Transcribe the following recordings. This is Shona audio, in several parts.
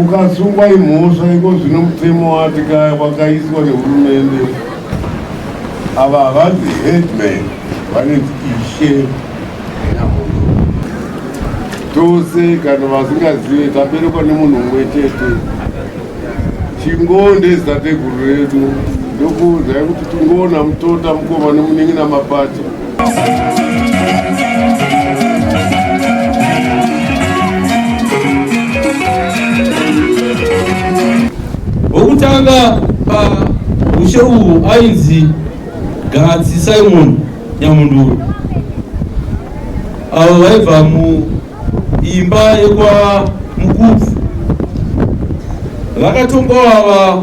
Ukasungwa imhosva iko zvino mutemo wati kaya wakaiswa nehurumende ava havanzi headman vanonzi ishe tose kana vasingazive taberekwa nemunhu umwe chete chingonde zitateguru redu ndokuudzai kuti tingoona mutota mukoma nemunin'ina mapacha wokutanga pamushe uhu ainzi gatsi simon nyamunduru avo vaibva muimba yekwa mukubvu vakatongoava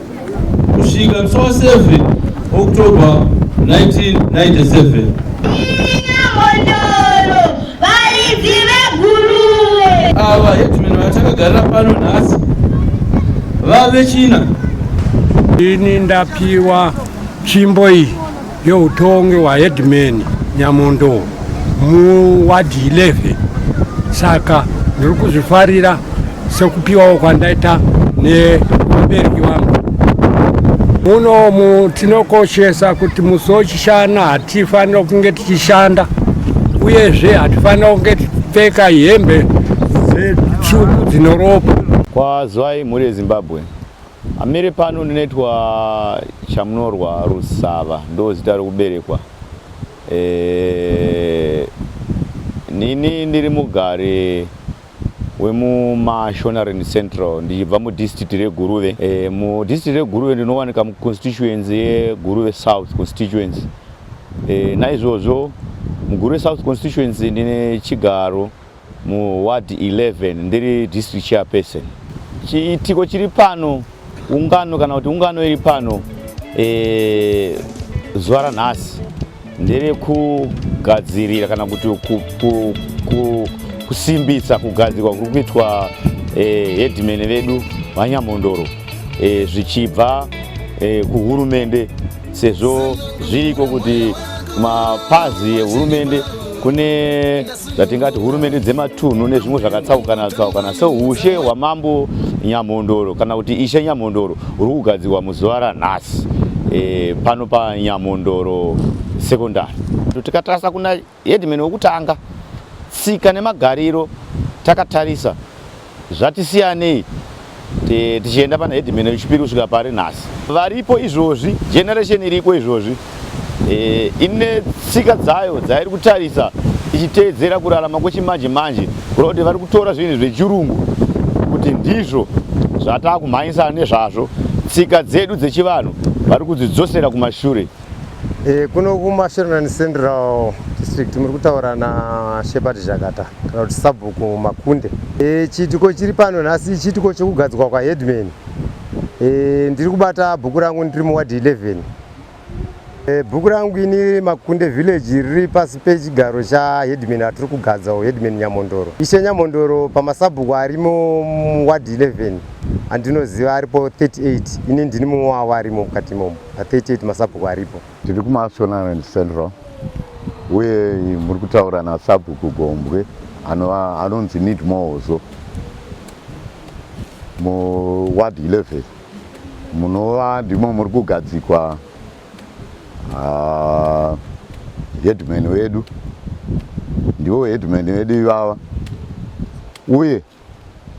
kusvika 27 October 1997. Ava headman vatakagarira pano nhasi vave china. Ini ndapiwa tsvimbo iyi yeutongi hwaheadman nyamondo muwadhi 11 saka ndiri kuzvifarira sekupiwawo kwandaita nemubereki wangu munomu tinokoshesa kuti musi wechishana hatifanira kunge tichishanda uyezve hatifanira kunge tichipfeka hembe dzetsvuku dzinoropa kwazwai mhuri yezimbabwe Amire pano ndinoitwa Chamunorwa Rusava ndo zita rokuberekwa. E, nini ndiri mugari wemuMashonaland Central ndichibva mudistrict reGuruve. E, mudistrict reGuruve ndinowanika muconstituency yeGuruve South constituency. E, naizvozvo muGuruve South constituency ndine chigaro muward 11 ndiri district chairperson chiitiko chiri pano ungano kana kuti ungano iri pano e, zuva ranhasi ndere kugadzirira kana kuti ku, ku, ku, kusimbisa kugadzirwa kuri kuitwa e, headman vedu vanyamondoro e, zvichibva e, kuhurumende sezvo zviriko kuti mapazi ehurumende kune zvatingati hurumende dzematunhu nezvimwe zvakatsaukana tsaukana seushe hwamambo nyamhondoro kana kuti ishe nyamhondoro huri kugadzirwa muzuva ranhasi e, pano panyamhondoro sekondari tikatarisa kuna hedman wekutanga tsika nemagariro takatarisa zvati siyanei tichienda pana headman wechipiri kusvika pari nhasi varipo izvozvi generation iriko izvozvi e, ine tsika dzayo dzairi kutarisa ichiteedzera kurarama kwechimanje manje kuda kuti vari kutora zvinhu zvechirungu kuti ndizvo zvataakumhanyisana nezvazvo tsika dzedu dzechivanhu vari kudzidzosera kumashure E, kuno kuMashonaland Central District muri kutaura naShepherd Zhakata kana kuti Sabhuku Makunde. E, chiitiko chiri pano nhasi chiitiko chekugadzwa kwaHeadman. E, ndiri kubata bhuku rangu ndiri muwadhi 11. E, bhuku rangu ini Makunde Village riri pasi pechigaro chaHeadman atiri kugadza Headman Nyamondoro. Ishe Nyamondoro pamasabhuku arimo muwadhi 11 andinoziva aripo 38 ini ndini mumwe wavo arimo mukati imomo. 38 masabhuku aripo tiri kumashonaland central uye muri kutaura nasabhuku gombwe anonzi need mozo muward 11 munova ndimo muri kugadzikwa ah, headman wedu ndivo headman vedu ivava uye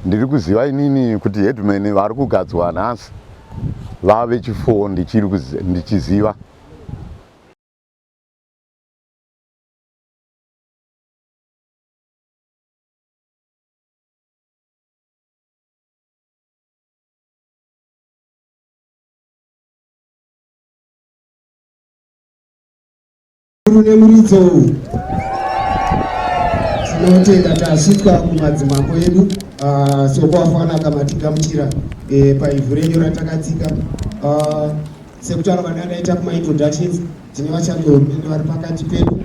Ndiri kuziva inini kuti headman vari kugadzwa nhasi vave chifoo ndichiri ndichiziva Rune muridzo uyu tinotenda tasvitswa kumadzimambo edu ah, sokwafana akamatigamuchira eh, paivhu renyu ratakatsika ah, sekutaura vanadaita kumaintroductions tine vachandorumende vari pakati pedu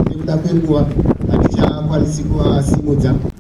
nekuda kwenguva hatichakwanisi kuvasimudza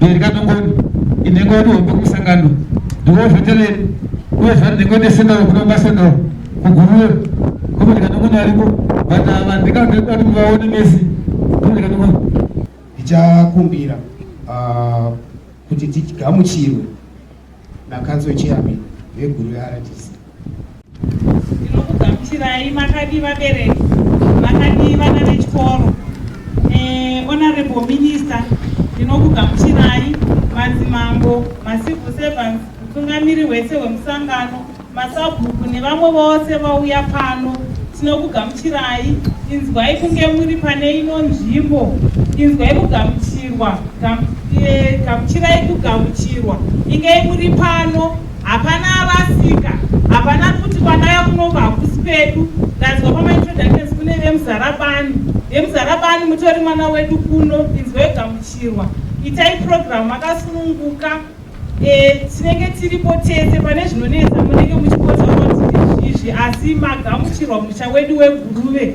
Dare kaNongoni inhengo yedu hombe kumusangano ndiwo zvetereri uye zvati nhengo ndesendoro kuno masendoro kuguruwe kombe ndikanongoni ariko but ava ndikandati muvaone mesi ndikanongoni ndichakumbira ah, kuti tigamuchirwe nakanso chiyamini veguru yeRDC Ndinokugamuchirai makadii vabereki, vakadii vana vechikoro. Eh, Honorable Minister, ndinokugamuchirai madzimambo, macivil servants, mutungamiri wese wemusangano, masabhuku nevamwe vose vauya pano. Tinokugamuchirai, inzwai kunge muri pane ino nzvimbo, inzwai kugamuchirwa, gamu- eh, gamuchirai kugamuchirwa, ingei muri pano Hapana arasika, hapana kuti kwandaya kunoku hakusi pedu. Ndanzwa pamaintroductions kune vemuzarabani. Vemuzarabani mutori mwana wedu kuno, inzwa yogamuchirwa. Itai program makasununguka. Eh, tinenge tiripo tese pane zvinonetsa munenge muchipotsa kuti izvi asi magamuchirwa musha wedu weguruve.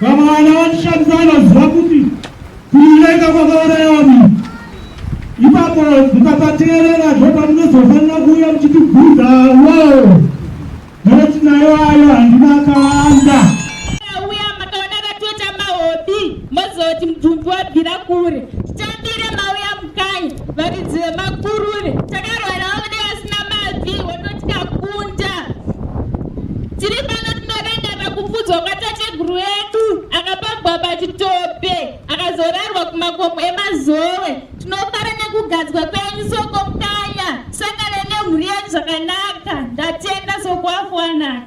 Vamwe vana vatishandisa vanoziva kuti kuivenga kwakaurayawa munhu ipapo mukapateerera zvopa munozofanira kuuya muchitibvunza woo noti nayo ayo handina kanda uya makaona vatoita mahobi mozoti mubvumbi wabvira kure titambire mauya mukanya varidzi vemakurure takarwarawo nevasina mabvi wototi kakunda tiri pano tinorenga pakupfudzwa kwatateguru edu akapagwa pachitope akazorarwa kumakomo emazowe tinofara nekugadzwa kwenyu soko mukanya sangane nemhuri yenyu zvakanaka ndatenda sokuafuanaka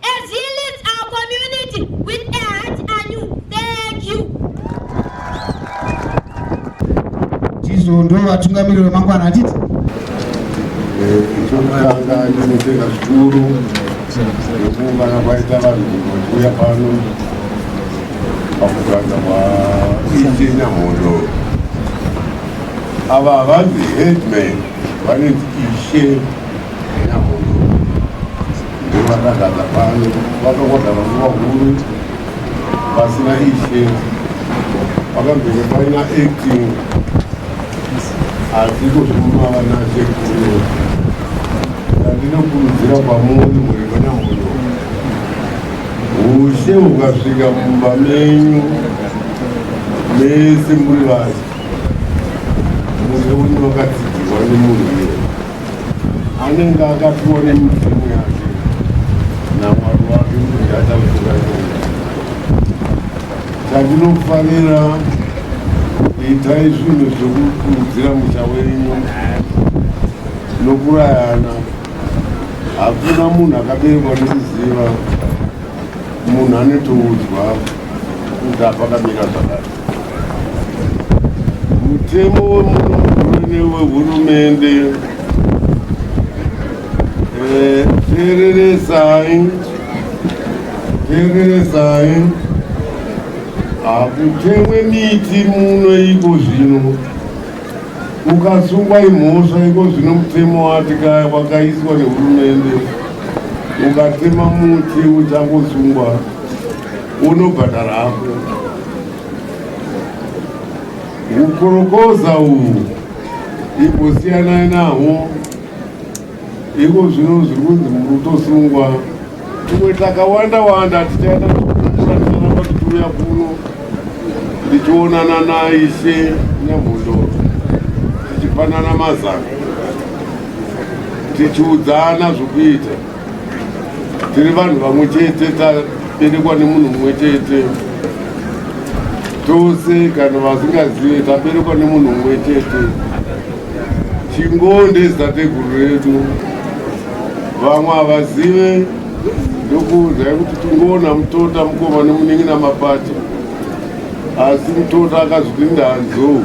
As he leads our community with a heart anew, thank you. Tizo ndo vatungamiriri vemangwana atiti tokutanga tinotenda zvikuru nekuungana kwaita vanhu vachiuya pano pakuganza kwaite nyamhondo ava havanzi headman vanenzi ishe Vakagara pano vakagara nguva huru vasina ishe, vakambenge paina acting asi kuzvuma vana sekuru ndandinokurudzira kwamuri muri vana muno ushe ukasvika mumba menyu mese muri vasi muze unokatsigirwa nemunhu iye anenge akapiwa nemidzimu yake namwari wake kuti ataura chatinofanira itai zvinhu zvekukurudzira musha wenyu nokurayana hakuna munhu akaberekwa nekuziva munhu anetoudzwa kuti apakamira zvakati mutemo wemunogurune wehurumende eh, tereresai tereresai hakutemwe miti muno iko zvino ukasungwa imhosva iko zvino mutemo wati kaya wakaiswa nehurumende ukatema muti uchangosungwa unobhadhara hako Kukorokoza uhu imbosiyanai nahwo iko zvino zviri kunzi murutosungwa tumwe takawanda wanda tichaita kushandisana tituuya kuno tichionana naishe nyamhondoro tichipanana mazano tichiudzana zvokuita tiri vanhu vamwe chete taberekwa nemunhu mumwe chete tose kana vasingazive taberekwa nemunhu mumwe chete chingonde zitateguru redu vamwe havazive ndokuudzai kuti tingoona mutota mukoma nemunin'ina mapati asi mutota akazviti ndanzou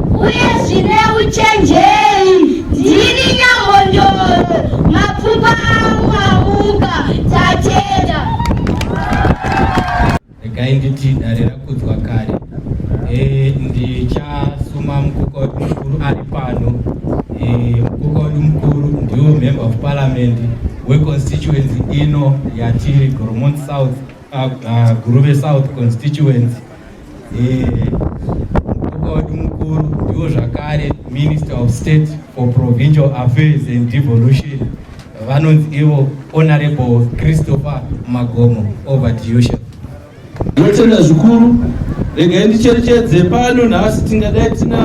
Uye zvine uchenjeri ndini nyambondoro mapfupa angu amuka tatenda. Regai nditi dare rakudzwa kare. Eh, ndichasuma mukokori mukuru ari pano. Eh, mukokori mukuru ndiwo member of parliament weconstituency ino yatiri Goromont South, uh, uh, Guruve South constituency. Mukuru wedu mukuru ndiwo zvakare Minister of State for Provincial Affairs and Devolution vanonzi ivo Honorable Christopher Magomo over to you chef. Ndinotenda zvikuru regai ndicherechedze pano nhasi tingadai tina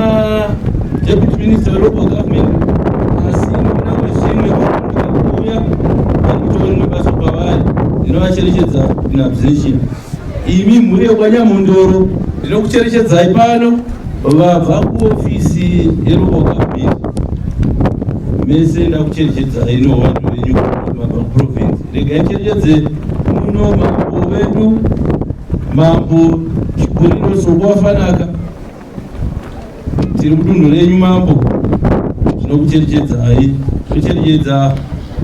Deputy Minister weLocal Government asi namwe zvimwe vakuuya vakutoona basa pavari ndinovacherechedza in absentia Imi mhuri yekwaNyamhondoro ndinokucherechedzai pano vabva kuofisi yeruboka mbiri mese ndakucherechedzai nowandu venyu mabva kuprovinsi regai cherechedze muno mambo vedu mambo chikuriro sokuwafanaka tiri mudunhu renyu mambo tinokucherechedzai tocherechedza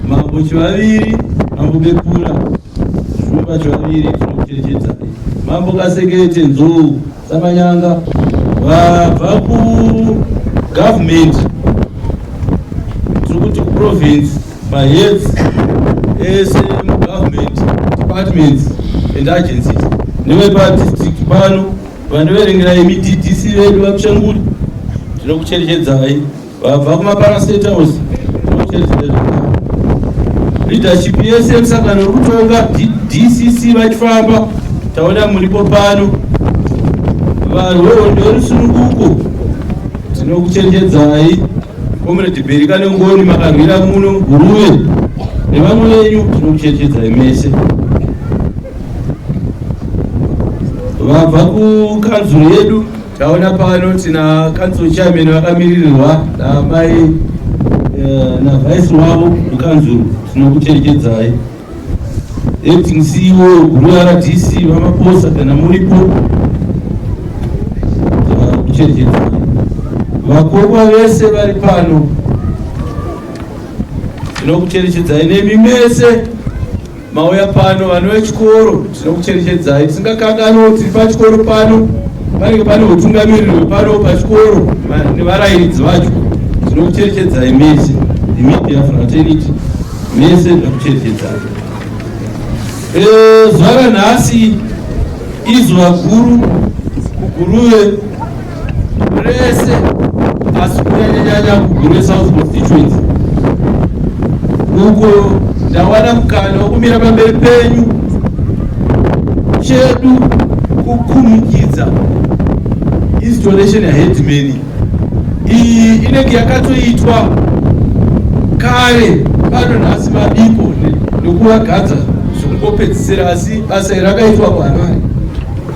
mambo chivaviri mambo bekura zvumba chivaviri tinokucherechedzai mambo kasekete nzou samanyanga vabva kugavhumenti tiri kuti kuprovince maheads ese mugovhumenti departments and agencies nevepa district pano Vandiverengera imi DDC vedu vaPshanguri tinokucherechedzai vabva kumapara state house tinokucherechedzai leadership yese yemusangano uri kutonga DCC vachifamba taona muripo pano varwewo ndorusununguko tinokucherechedzai Comrade Berika Nengoni makarwira muno Guruve nevamwe venyu tinokucherechedzai mese. Vabva kukanzuru yedu taona pano tina kanzuru chairman vakamiririrwa namai eh, navice wavo mukanzuru tinokucherechedzai. Acting CEO guru RDC vamaposa kana muripo kuchenjedza vakokwa vese vari pano tinokucherechedzai nemi mese mauya pano vana vechikoro tinokucherechedzai tisingakanganwo tiri pachikoro pano panenge pane utungamiriri hwepano pachikoro nevarairidzi vacho tinokucherechedzai mese imedia fraternity mese ndokuchenjedza eh, zuva ranhasi izuva guru kuguruve rese asi kunyanyanyanya kuguruve south constituency uko ndawana mukana wokumira pamberi penyu chedu kukumikidza installation yaheadmani iyi inenge yakatoitwa kare pano nhasi mabiko nekuvagadza zvokungopedzisira asi basa iri rakaitwa kuharare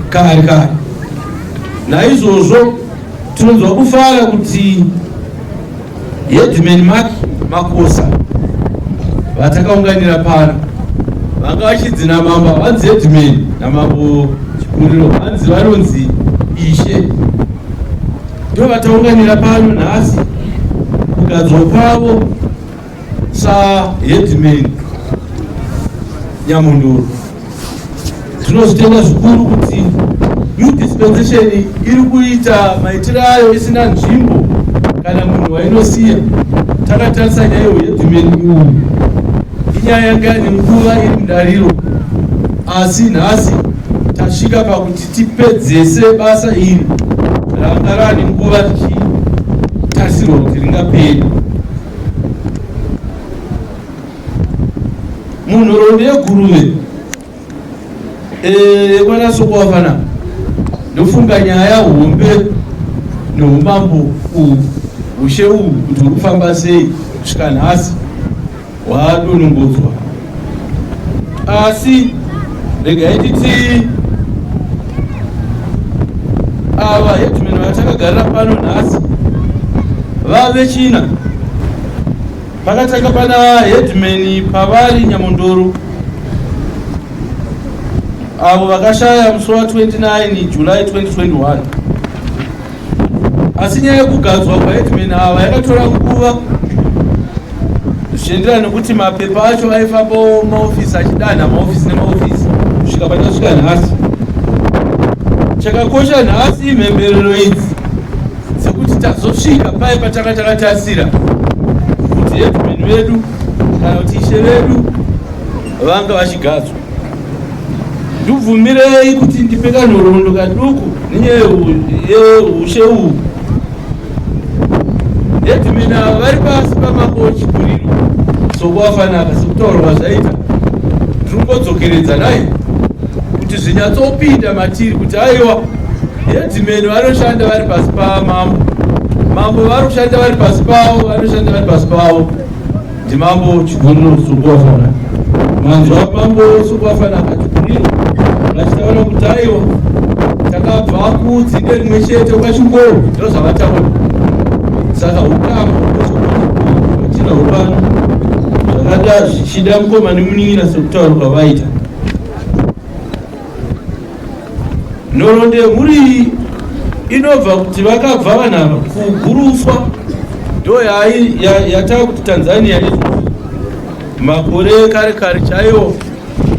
kare kare naizvozvo tinonzwa kufara kuti Headman Mark Makosa vatakaunganira pano vanga vachidzi namambo vanzi headman namambo chikuriro vanzi vanonzi ishe ndo vataunganira pano nhasi kugadzwa kwavo saheadman nyamunduru Tinozvitenda zvikuru kuti new dispensation iri kuita maitiro ayo isina nzvimbo kana munhu wainosiya takatarisa nyaya iyo yedhimeni uyu inyaya yanga yane nguva iri mudariro asi nhasi tasvika pakuti tipedzese basa iri ranga rane nguva tichitasirwa kuti ringaperi munhoroondo yeguruve eh, mwana sokuwafana ndofunga nyaya hombe neumambo uhu ushe uhu kuti uri kufamba sei kusvika nhasi hwadonongodzwa asi regai titi ava hetumeno vatakagarira pano nhasi vave china Pakatanga pana headman pavari Nyamondoro avo vakashaya musi wa 29 July 2021 asi nyaya yekugadzwa kwaheadman ava yakatora nguva zvichienderana nekuti mapepa acho aifambawo maofisi achidanha maofisi nemaofisi kusvika patasvika nhasi chakakosha nhasi imhemberero idzi sekuti tazosvika paye patanga takatasira kuti headman vedu kana kuti ishe vedu vanga vachigadzwa ndibvumirei kuti ndipe kanhoroondo kaduku nenyaya yeushe uhu headman ava vari pasi pamakochi kuriro sokuvafanaka sekutaurwa zvaita tiri kungodzokeredza nai kuti zvinyatsopinda matiri kuti aiwa Headman vanoshanda vari pasi pamambo, mambo vanoshanda vari pasi pavo, vanoshanda vari pasi pavo. Ndimambo Chiguriro Sukwafana, manzwa mambo Sukwafana akati kudii vachitaura kuti aiwa takabva kudzinde rimwe chete kwachingoro ndiro zvavataura saka ukama achina upano zvakada zvichida mukoma nemunin'ina sekutaura kwavaita Nhorondehuru iyi inobva kuti vakabva vanhu ava kuguruswa ndo yatava kuti Tanzania i makore ekare kare chaiwo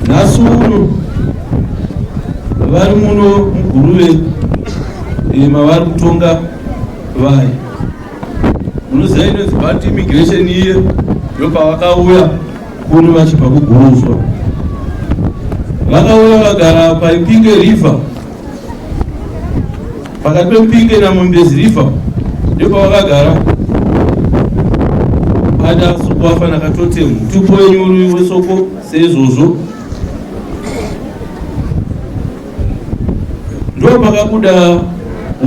nhasi uno vari muno muguruve eh, mavari kutonga vari munoziva inonzi bad immigration iye ndopavakauya Kuri vachibva kuGuruzva vakauya vagara paIpinge River, pakati peMpinge naMumbezi River ndipo vakagara ada soko afana katotemu tupo wenyuru wesoko seizvozvo ndo pakabuda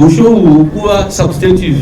usho uhu kuva substantive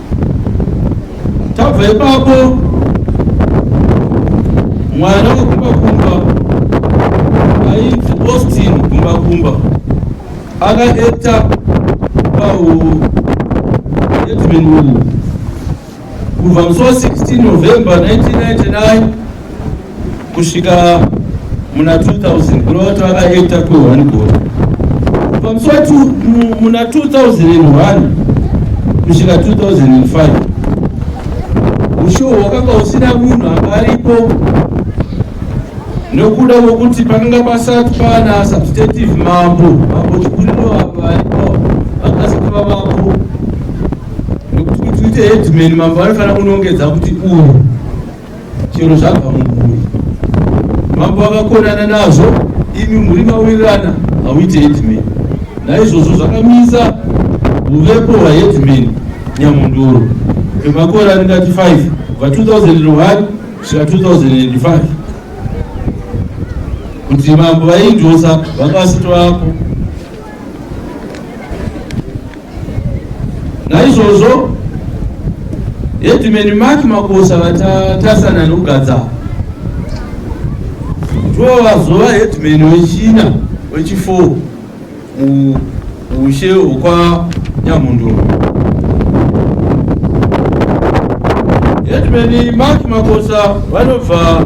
tabva ipapo mwana wekumbakumba ainzi austin kumbakumba akaekta paedmin uyu kubva musi wa 16 november 1999 kusvika muna 2000 kuna vati vakaita kwehwani gore pamusati muna 2001 kusvika 2005 ushowo hwakanga usina munhu anga aripo nokuda kwokuti pakanga pasati pana substantive mambo mambo chikuriro avo varipo vakasava mambo nokuti kuti uite headman mambo vanofanira kunongedza kuti uyu chero zvabva mumhuri mambo vakakonana nazvo imi mhuri mawirirana hauite headman naizvozvo zvakamisa uvepo hwaheadman nyamundoro emakore aringati 5 va 2001 svika 2005 kuti mambo vaindosa vanga vasito vapo Naizvozvo Headman Mark Makosa vatatasana nokugadza ndivo vazova headman wechina wechifour muushe hwekwa Nyamundoro. Headman Mark Makosa vanobva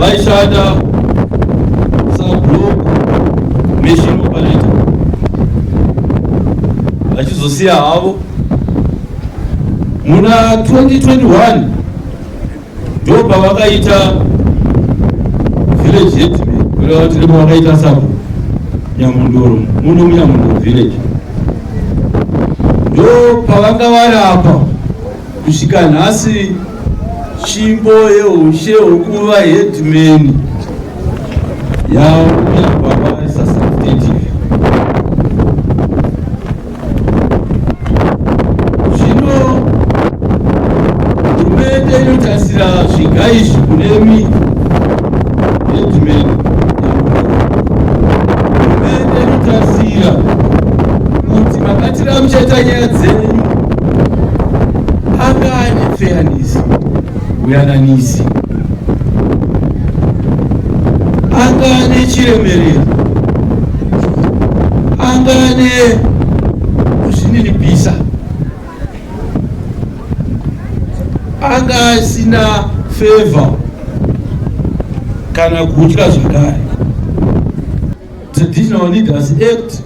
vaishanda sablock machine operator vachizosiya havo muna 2021 ndo pavakaita village headman kureva kuti ndipo vakaita sabo nyamundoro muno munyamundoro village ndo pavanga vari apa Kusvika nhasi tsvimbo yeushe hwekuva headman yauya kwavarisa substantive zvino hurumende inotarisira zviga izvi kune mi headman Tiramucheta nyaya dzenyu anga ane feyanisi uyananisi anga ane chiremerero anga ane kuzvininipisa anga asina favor kana kutya zvakare Traditional Leaders Act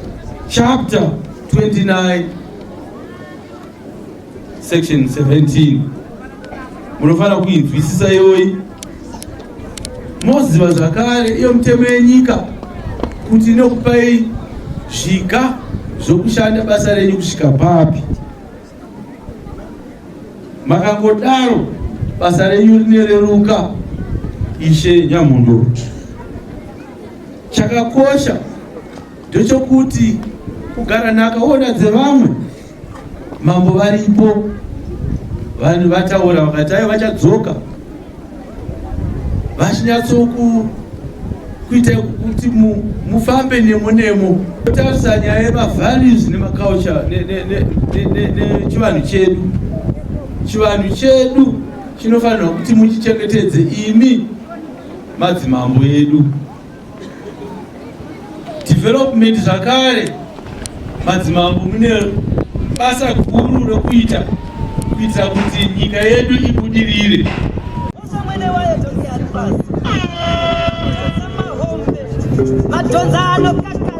chapter 29 section 17 munofanira kuinzwisisa iyoyi moziva zvakare iyo mitemo yenyika kuti inokupai zviga zvokushanda basa renyu kusvika papi Makangodaro basa renyu rinereruka Ishe Nyamhondoro. Chakakosha ndechokuti kugara nhakaona dzevamwe mambo varipo vanhu vataura vakati ayo vachadzoka vachinyatsoku kuita kuti mufambe nemo nemo otarisa nyaya yemavalues nemaculture nechivanhu chedu chivanhu chedu chinofanirwa kuti muchichengetedze imi madzimambo edu development zvakare madzimambo mune basa guru rokuita kuitira kuti nyika yedu ibudirire madhonza anokaka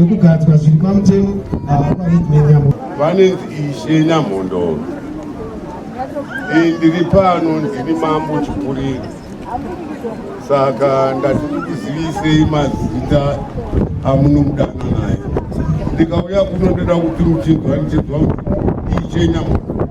nekugadzwa zviri pamutemo avapanenyamo vanenzi ishe nyamhondoro ndiri pano ndiri mambo chikuriri saka ndatikuzivisei mazita amunomudana naye ndikauya kuno ndoda kuti muchinzwa ndichinzwa kuti ishe nyamhondoro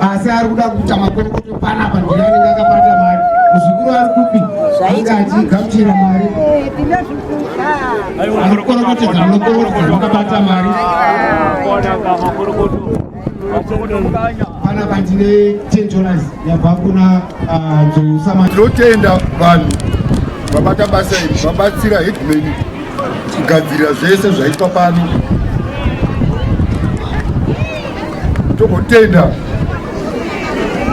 asi ari kuda kuita makomboto panapa ndina anenge akabata mari muzukuru ari kupi anga achigamuchira mari murokorokotedza murokorokotedza makabata mari pana pandine ten dollars yabva kuna ah, nzousamai tinotenda vanhu vabata basa iri vabatsira headman kugadzirira zvese zvaitwa pano togotenda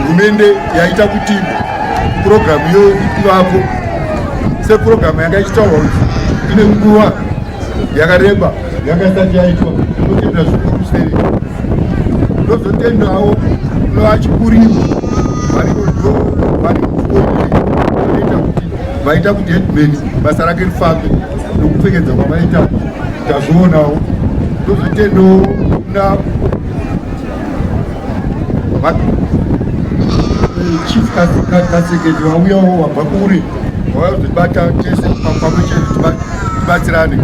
hurumende yaita kuti purogiramu iyo ivapo sepurogiramu yanga ichitaurwa kuti ine nguva yakareba yanga isati yaitwa totenda zvikuru sei ndozotendawo novachikurimu variko ndo vari kuoa vaita kuti headman basa rake rifambe nokupfekedza kwavaita tazvionawo ndozvitendewo kuna chief kaseketi vauyawo wabva kure vavazvibata tese pamwe chete tibatsirane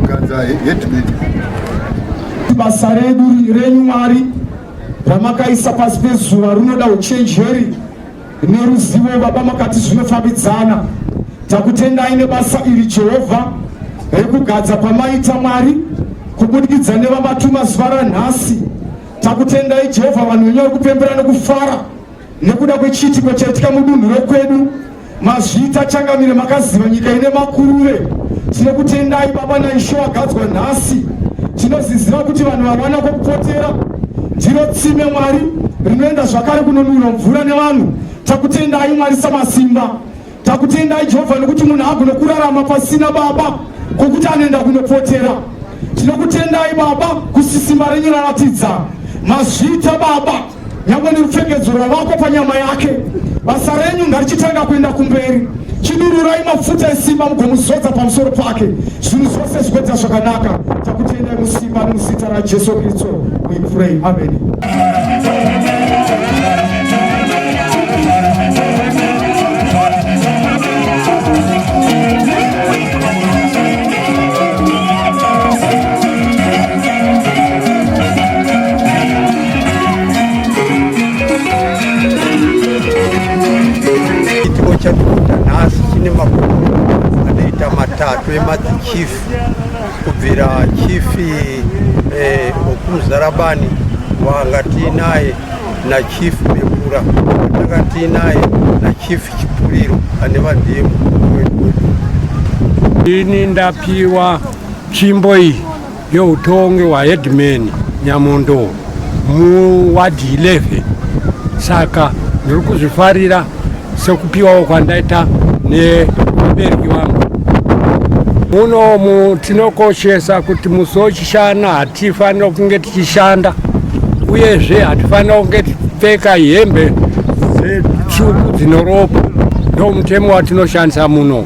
kuganza headman basa redu renyu mwari ramakaisa pasi pezuva runoda uchenjeri neruzivo baba makati zvinofambidzana takutendai nebasa iri jehovha rekugadza kwamaita mwari kubudikidza nevamatuma zuva ranhasi takutendai jehovha vanhu venyu vari kupembera nekufara nekuda kwechiitiko chaitika mudunhu rekwedu mazvita changamire makaziva nyika ine makuruve tinokutendai baba naisho agadzwa nhasi Tinozviziva kuti vanhu vawana kwekupotera ndiro tsime Mwari rinoenda zvakare kunonwirwa mvura nevanhu. Takutendai Mwari Samasimba, takutendai Jehovha nekuti munhu haagone kurarama pasina Baba kokuti anoenda kunopotera. Tinokutendai Baba kusisimba renyu raratidza mazvita Baba. nyangwe nerupfekedzura vako panyama yake basa renyu ngarichitanga kuenda kumberi chidururai mafuta esimba mugomuzodza pamusoro pake zvinhu zvose zvipedza zvakanaka takutendai musimba nemuzita rajesu kristu we pray ameni Chitiko chatikuta nhasi chine makumi anoita matatu emadzichifi kubvira chifi eh, okumuzarabani wanga tiinaye nachief mekura tanga tiinaye nachief chipuriro ane vandiyemu ini ndapiwa tsvimbo iyi yeutongi hwaheadman Nyamondo muwadhi 11 saka ndiri kuzvifarira sekupiwawo kwandaita nevabereki vangu munomu tinokoshesa kuti musi wechishana hatifanira kunge tichishanda uyezve hatifanira kunge tichipfeka hembe dzetsvuku dzinoropa ndomutemo watinoshandisa muno